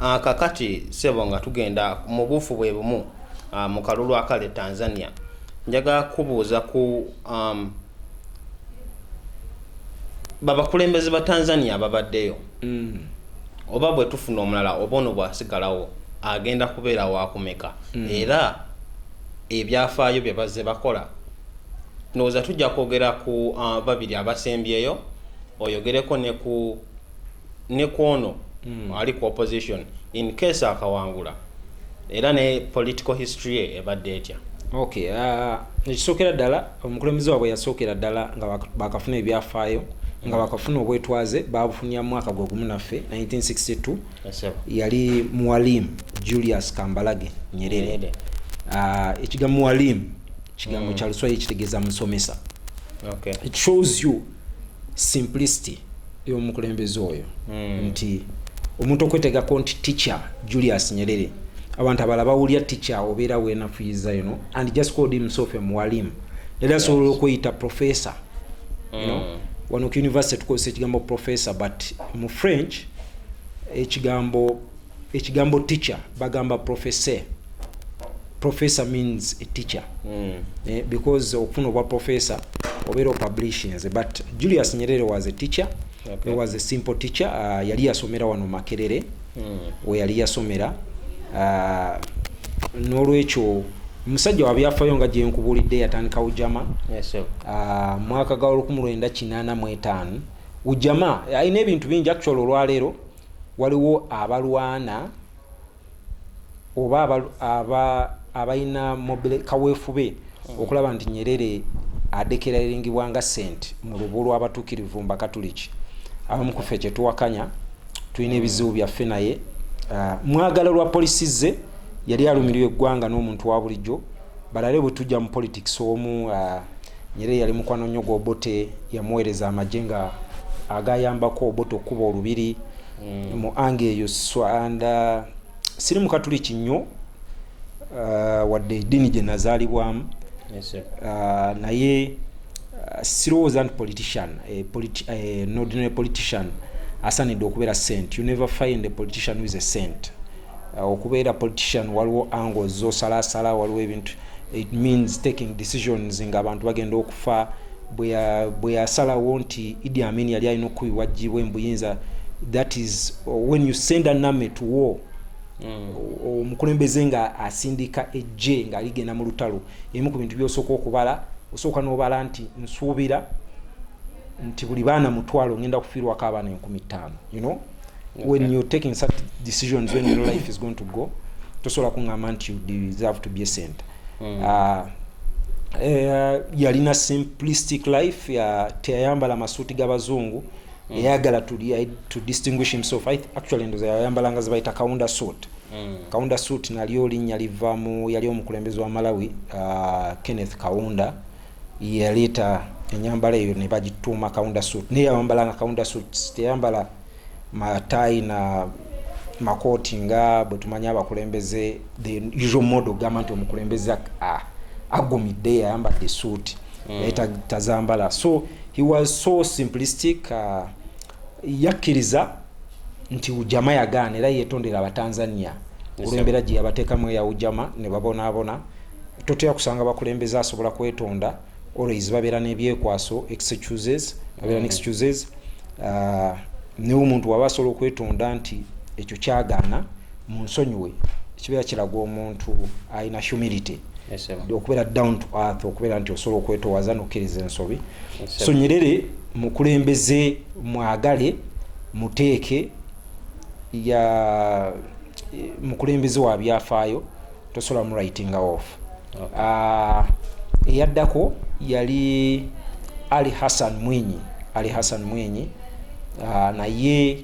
Ah, kakati sebo nga tugenda mu buufu bwe bumu ah, mu kalulu akale tanzania njagala kubuuza ku um, babakulembeze ba tanzania babaddeyo mm. oba bwe tufuna omulala oba ono bwasigalawo agenda kubeera wakumeka mm. era ebyafaayo bye bazze bakola ndowooza tujja kwogera ku uh, babiri abasembyeyo oyogereko ne ku ne kwono mm. ali ku opposition in case akawangula era ne political history ye ebadde etya okay uh, ekisookera ddala omukulembeze waabwe yasookera ddala nga bakafuna ebyafaayo nga bakafuna obwetwaze babufunira mu mwaka gwe gumu naffe 1962 yali muwalim julius kambalage nyerere ah, ekigambo muwalim kigambo mm. kyaluswayiri kitegeeza musomesa it shows you simplicity yomukulembeze oyo mm. nti omuntu okwetegako nti teacher julius nyerere abantu abala bawulira teacher obeera wenafuyiza you know and just called himself a muwalim era asobola okweyita professor you know mm. wano ku university tukozesa ekigambo professor but mu french ekigambo ekigambo teacher bagamba professor professor means a teacher mm. eh, because okufuna obwa professor obeera opublishinze but julius nyerere was a teacher okay. was a simple teacher uh, yali yasomera wano makerere mm. weyali yasomera uh, n'olwekyo musajja wabyafayo nga gyenkubulidde yatandikawo jama yes, uh, mwaka ga olukumi lwenda kinana mwetaano ujama alina ebintu bingi actual olwaleero waliwo abalwana oba abalina kawefube hmm. okulaba nti nyerere adekeraringibwa nga sent mu lubu lwabatukirivu mbakatuliki abamu kufe kyetuwakanya tulina ebizibu byaffe naye ah, mwagala lwa polisi ze yali alumirirwa eggwanga n'omuntu wa bulijjo balale bwe tujja mu politics omu ah, Nyerere yali mukwano nnyo gw'Obote, yamuweereza amagye nga agayambako Obote okukuba olubiri mm. mu anga eyo and uh, siri mukatuliki nnyo uh, wadde eddiini gye nazaalibwamu yes, uh, naye uh, sirowooza nti politician eh, politi eh, an ordinary politician asanidde okubeera sent you never find a politician who is a sent uh, okubeera politician waliwo ango zosalasala waliwo ebintu it means taking decisions nga abantu bagenda okufa bwe yasalawo nti idi amin yali alina okukubibwa jibwe mbuyinza that is uh, when you send an army to war mm. omukulembeze mm. nga asindika ejje nga ligenda mu lutalo emu ku bintu byosooka okubala osooka nobala nti nsuubira nti buli baana mutwalo ngenda kufiirwako abaana enkumi ttaano you know when you're taking such decisions when your life is going to go tosobola kuŋŋamba nti you deserve to be a center mm. uh, uh, yalina simplistic life ya teyayambala masuuti g'abazungu mm. eyagala to distinguish himself I actually ndoza yayambalanga zebayita kaunda suit mm. kaunda suit nalyo linnya liva mu yali omukulembezi wa malawi uh, kenneth kaunda yaleeta enyambala eyo ne bagituuma kaunda suit naye yawambala nga kaunda suits teyambala mataayi na makooti nga bwe tumanyi abakulembeze the usual model ogamba nti omukulembeze agumidde yayambadde suit mm. naye tazambala so he was so simplistic uh, Yakkiriza nti Ujama yagaana era yeetondera Abatanzania olw'embeera gye yabateekamu eya Ujama ne babonaabona. Totera kusanga bakulembeze asobola kwetonda, always babeera n'ebyekwaso, excuses, babeera ne excuses. Uh, naye omuntu waba asobola okwetonda nti ekyo kyagaana munsonyiwe kibeera kiraga omuntu alina humility okubeera down to earth okubeera nti osobola okwetowaza nokkiriza ensobi so nyerere mukulembeze mwagale muteeke ya mukulembeze wa byafaayo tosobola mu writing off ah, eyaddako yali ali hassan mwinyi ali hassan mwinyi ah, naye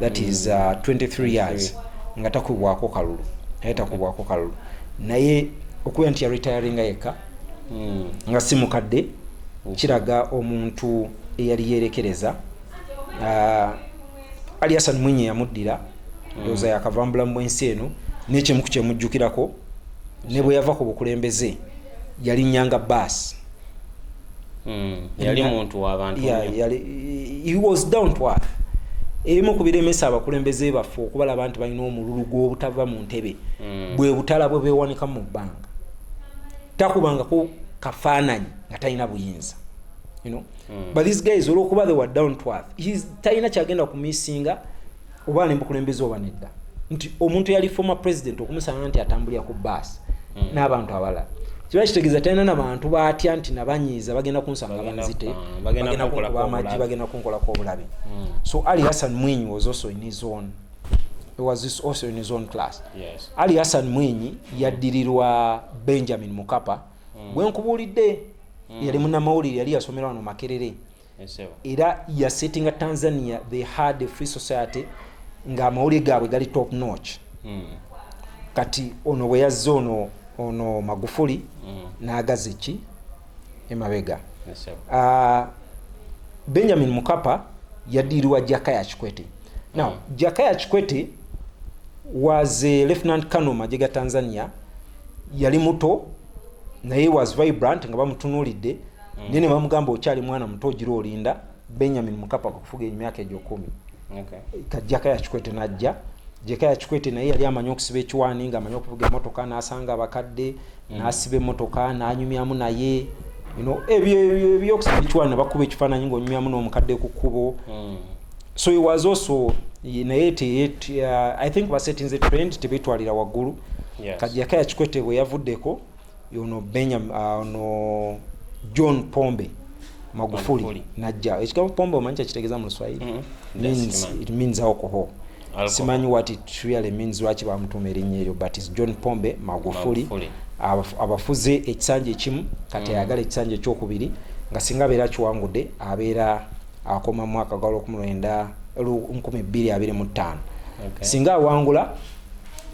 that is uh, 23 years nga takubwako kalulu naye takubwako kalulu naye okubeera nti yaretiringa yekka hmm. nga si mukadde hmm. kiraga omuntu eyali yerekereza uh, ali asan mwinyi yamuddira hmm. ndowooza yakavambula mu ensi eno nekyemuku kyemujjukirako ne bwe yava ku bukulembeze yali nyanga baasi Hmm, yali muntu wabantu he was down to earth ebimu ku biremesa abakulembeze baffe okubalaba nti balina omululu gw'obutava mu ntebe hmm. bwe butala bwe beewanika mu bbanga takubangako kafaananyi nga talina buyinza you know? mm. but these guys olwokuba they were down to earth talina kyagenda kumisinga oba ali mubukulembeze oba nedda nti omuntu yali former president okumusanga nti atambulira ku baasi hmm. n'abantu abalala kiba kitegeeza talina nabantu batya nti nabanyiiza bagenda kunsanga banzite ah, bagenda kunkuba amagi bagenda kunkolako obulabe hmm. so ali hassan mwinyi was also in his own was this also in his own class yes. ali hassan mwinyi yaddirirwa benjamin mukapa mm. gwenkubuulidde mm. yali munamawulire yali yasomera wano makerere era yasetinga tanzania they had a free society nga amawulire gaabwe gali top notch hmm. kati ono bwe yazze ono ono magufuli hmm. n'agaza eki emabega ah, benjamin mukapa yadiirwa jakaya kikwete now hmm. jakaya kikwete was a lieutenant kano magye ga tanzania yali muto naye was vibrant nga bamutunuulidde mm. naye ne bamugamba okyali mwana muto ogira olinda benyamin mukapa kufuga emyaka egyo kumi okay. kajjaka yakikwete najja jeka yakikwete naye yali amanyi okusiba ekiwaani nga amanyi okuvuga emotoka nasanga abakadde mm. nasiba emotoka nanyumyamu naye ebyokusiba ekiwaani nabakuba ekifaananyi ngaonyumyamu n'omukadde ku kkubo mm. so he was also naye uh, i think basetinze trend tebetwalira waggulu kajjaka yakikwete bwe yavuddeko yono benyam ah, ono john pombe magufuli Magufuli. najja ekigambo pombe omanyi kyakitegeza mu luswahili Mm, means, ndasikimanyi. it means alcohol Alcohol. simanyi what it really means lwaki bamutuuma erinnya eryo but is john pombe magufuli Magufuli. Mm. Abaf- abafuze ekisanja ekimu kati ayagala ekisanja ekyokubiri nga singa abeera akiwangudde abeera akoma mu mwaka gwa lwokumulwenda lu- nkumi bbiri abiri mu ttaano Okay. singa awangula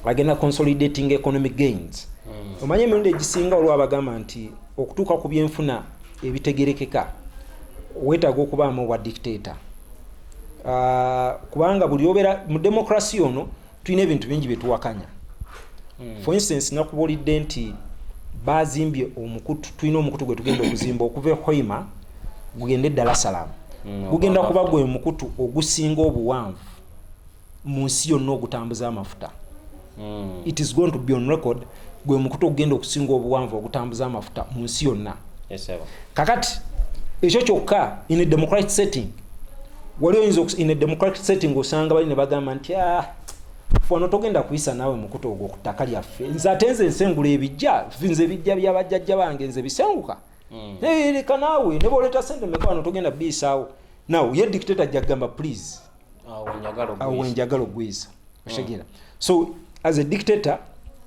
agenda consolidating economic gains hmm. omanye emirundi egisinga olwa abagamba nti okutuuka ku byenfuna ebitegerekeka wetaaga okubaamu obwa dictator ah, kubanga buli obeera mu demokrasi ono tulina ebintu bingi byetuwakanya hmm. for instance nakubuulidde nti bazimbye omukutu tulina omukutu gwe tugenda okuzimba okuva ehoima gugende eddala salaamu hmm, gugenda kuba gwe mukutu ogusinga obuwanvu mu nsi yonna ogutambuza amafuta mm. it is going to be on record gwe mukutu ogugenda okusinga obuwanvu ogutambuza amafuta mu nsi yonna yes, kakati ekyo kyokka in a democratic setting wali oyinza in a democratic setting osanga bali ne bagamba nti ah, wano togenda kuyisa naawe mukutu ogwo ku ttaka lyaffe nze ate nze nsengula ebijja nze ebijja byabajjajja bange nze bisenguka mm. leka naawe ne boleeta sente meka wano togenda biyisaawo naw ye dictator jja kugamba please awo wenjagala okugwiisa okitegera mm. so as a dictator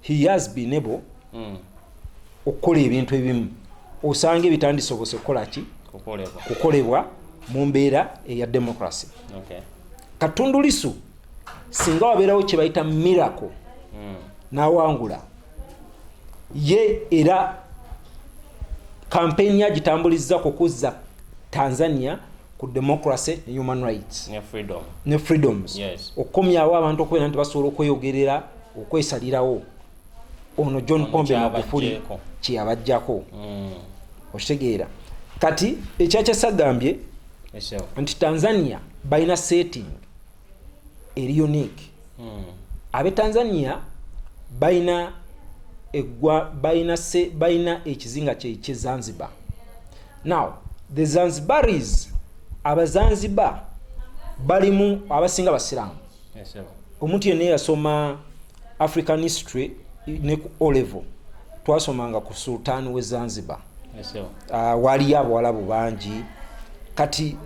he has been able mm. okukola ebintu ebimu osanga ebitandisobose kukolaki kukolebwa mu mbeera eya democracy katundu lisu singa wabeerawo kyebayita miracle mm. nawangula ye era kampeyini agitambulizza kukuzza tanzania ku democracy ne human rights ne freedom ne freedoms yes. okukomyawo abantu okubeera nti basobola okweyogerera okwesalirawo ono john pombe magufuli kyeyabajjako mm. okitegeera kati ekyakyasagambye nti tanzania balina setting eri unique hmm. abe tanzania balina egwa balina se balina ekizinga kyekye zanzibar now the zanzibaris abazanzibar balimu abasinga basiramu omuntu yenna eyasoma african history ne ku olevo twasomanga ku sultan we zanzibar ah, waliyo abawalabu bangi kati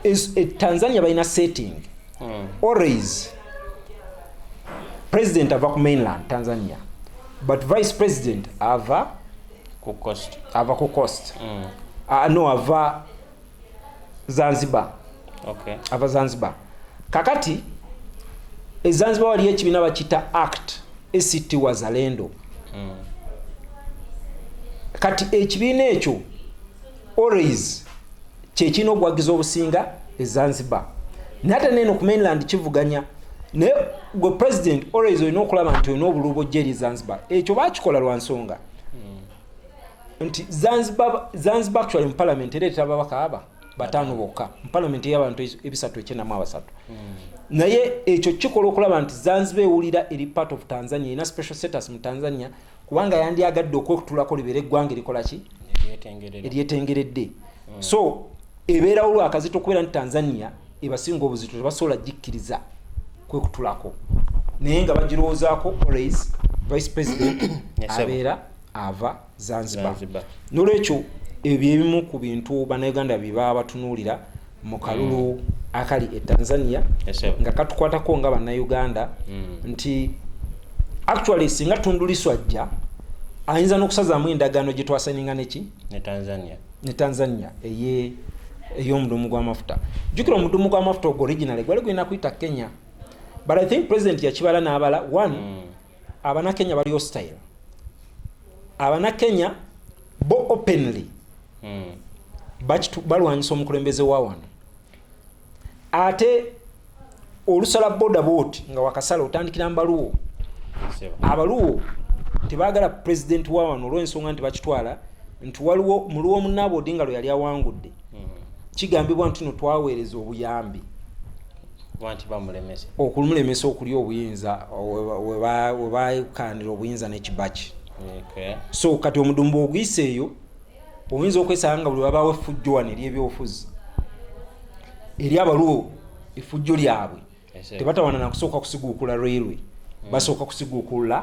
e, tanzania balina setting hmm. always president ava ku mainland tanzania but vice president ava ku coast ava ku coast mm. uh, no ava zanzibar okay. ava zanzibar kakati ezanzibar waliyo ekibiina bakita act act wazalendo mm. kati ekibiina ekyo always kyekirina okuwagiza obusinga ezanzibar naye ate neno ku mainland kivuganya naye gwe president always olina okulaba nti olina obulubo jeri zanzibar ekyo bakikola lwa nsonga nti zanzibar zanzibar actually mu parliament era etaba bakaaba batano bokka mu parliament y'abantu ebisatu ekyenamu abasatu mm. naye ekyo kikola okulaba nti zanzibar ewulira eri part of tanzania erina special status mu tanzania kubanga yandyagadde okwetulako libeera eggwanga erikolaki eryetengeredde mm. so ebeerawo lwakazito okubeera nti tanzania ebasinga obuzito tebasobola gikkiriza kwekutulako naye nga bagirowoozaako always vice president abeera ava zanzibar nolwekyo ebyo ebimu ku bintu banauganda byebaba batunuulira mu kalulu mm. akali e tanzania yes, nga katukwatako nga banauganda mm. nti actually singa tunduliswajja ayinza nokusazaamu endagaano gyetwasaninga neki ne tanzania, ne tanzania eye eyomudumu gwamafuta jukira omudumu gwamafuta ogwo original gwali gulina kuyita kenya but i think president yakibala nabala one mm. abana kenya bali hostile abana kenya bo openly mm. bakitu balwanyisa omukulembeze wa wano ate olusala boda boot nga wakasala otandikira mbaluwo abaluwo tebagala president wa wano olwensonga nti bakitwala nti waliwo muluwo omunaaba odinga lwe yali awangudde mm. kigambibwa nti no twaweereza obuyambi okumulemesa okulya obuyinza webakanira obuyinza nekibaki so kati omudumba oguyisa eyo oyinza okwesanga nga buli babawo efujjo wano eri ebyobufuzi eri abaliwo efujjo lyabwe tebatawana nakusooka kusiguukula railway mm. basooka kusiguukula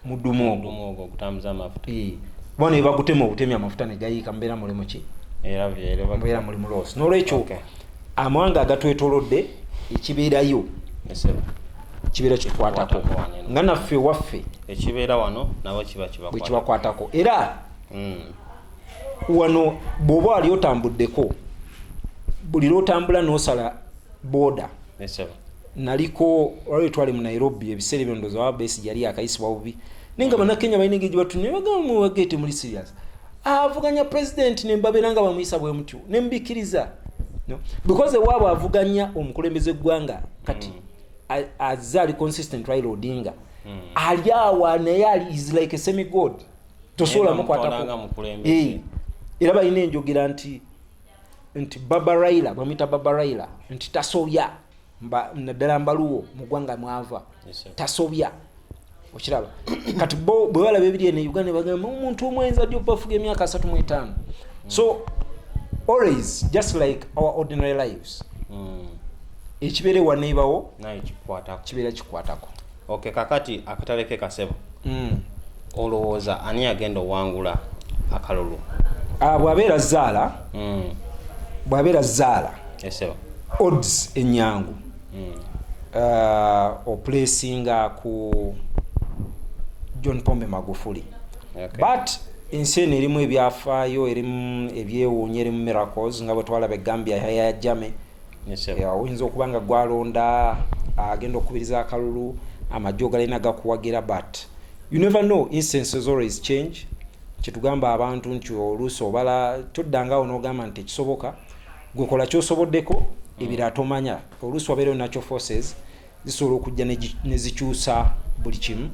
mudumu ogwo bona ebagutema obutemi amafuta negayiika mubeera mulimu ki mubeera mulimu losi nolwekyo amawanga agatwetolodde ekibeerayo kibeera kikwatako nga naffe waffe ekibeera wano nabo kibakwatako era hmm. wano bwoba wali otambuddeko buli lwotambula nosala boda naliko waliwo twali mu nairobi ebiseera ebyo ndoza wabesi yali akayisibwa bubi naye nga hmm. banakenya balina engeri gyebatunye bagamba mwewagete muli serious avuganya president nembabera nga bamuyisa bwemutyo nembikiriza no. because ewaabwe avuganya omukulembeze gwanga kati mm. azze ali consistent raila odinga mm. ali awa naye ali is like a semi god tosobola mukwatako eh. era balina enjogera nti nti baba raila bamuyita baba raila nti tasobya naddala mbaluwo mu ggwanga mwava tasobya okiraba kati bo bwe balaba ebiri eno uganda bagamba omuntu omwenza ddi obafuga emyaka asatu mu etaano so always just like our ordinary lives hmm. ekibeera ewaneebawo kibeera kikwatako ok kakati akatale ke kasebo mm. olowooza ani agenda owangula akalulu ah, bwabeera zaala mm. bwabeera zaala yes, odds enyangu mm. uh, ah, oplacinga ku john pombe magufuli okay. but ensi eno erimu ebyafaayo erimu ebyewuunya erimu miracles nga bwetwalaba egambia yayajame oyinza okuba nga gwalonda agenda okukubiriza akalulu amajje ogalina gakuwagira but you never know instances always change kyetugamba abantu nti oluusi obala toddangawo n'ogamba nti ekisoboka gwekola kyosoboddeko ebira tomanya oluusi wabeereyo natural forces zisobola okujja nezikyusa buli kimu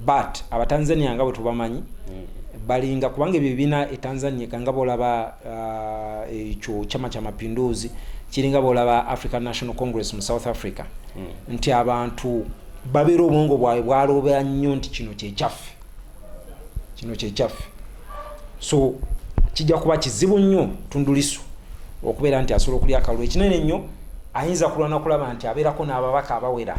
but abatanzania nga bwetubamanyi balinga kubanga ebyo ebina etanzania kanga bolaba uh, ekyo uh, chama kya mapinduzi kiringa bolaba african national congress mu south africa mm. nti abantu babeera obwongo bwabwe bwalobera nnyo nti kino kyekyaffe kino kyekyaffe so kijja kuba kizibu nnyo tundulisu okubeera nti asobola okulya akalulu ekinene nnyo ayinza kulwana kulaba nti abeerako n'ababaka abawera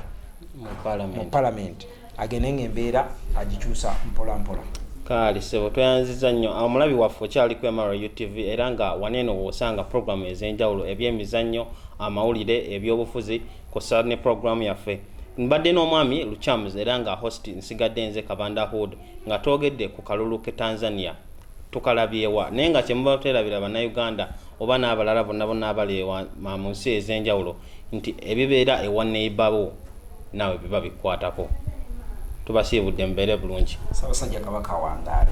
mu palamenti agende nga embeera agikyusa mpolampola kaali sebo tweyanziza nnyo omulabi waffe okyali ku mra utv era nga waneeno woosanga puroguramu ez'enjawulo ebyemizannyo amawulire ebyobufuzi kosa ne program yaffe mbadde n'omwami luchams era nga host nsigadde nze kabanda hood nga twogedde ku kalulu ke tanzania tukalabyewa naye nga kyemuba terabira bannayuganda oba n'abalala bonna bonna abali mu nsi ez'enjawulo nti ebibeera ewa neibawo naawe biba bikwatako tubasiibudde mubeere bulungi sabasajja kabaka wandaale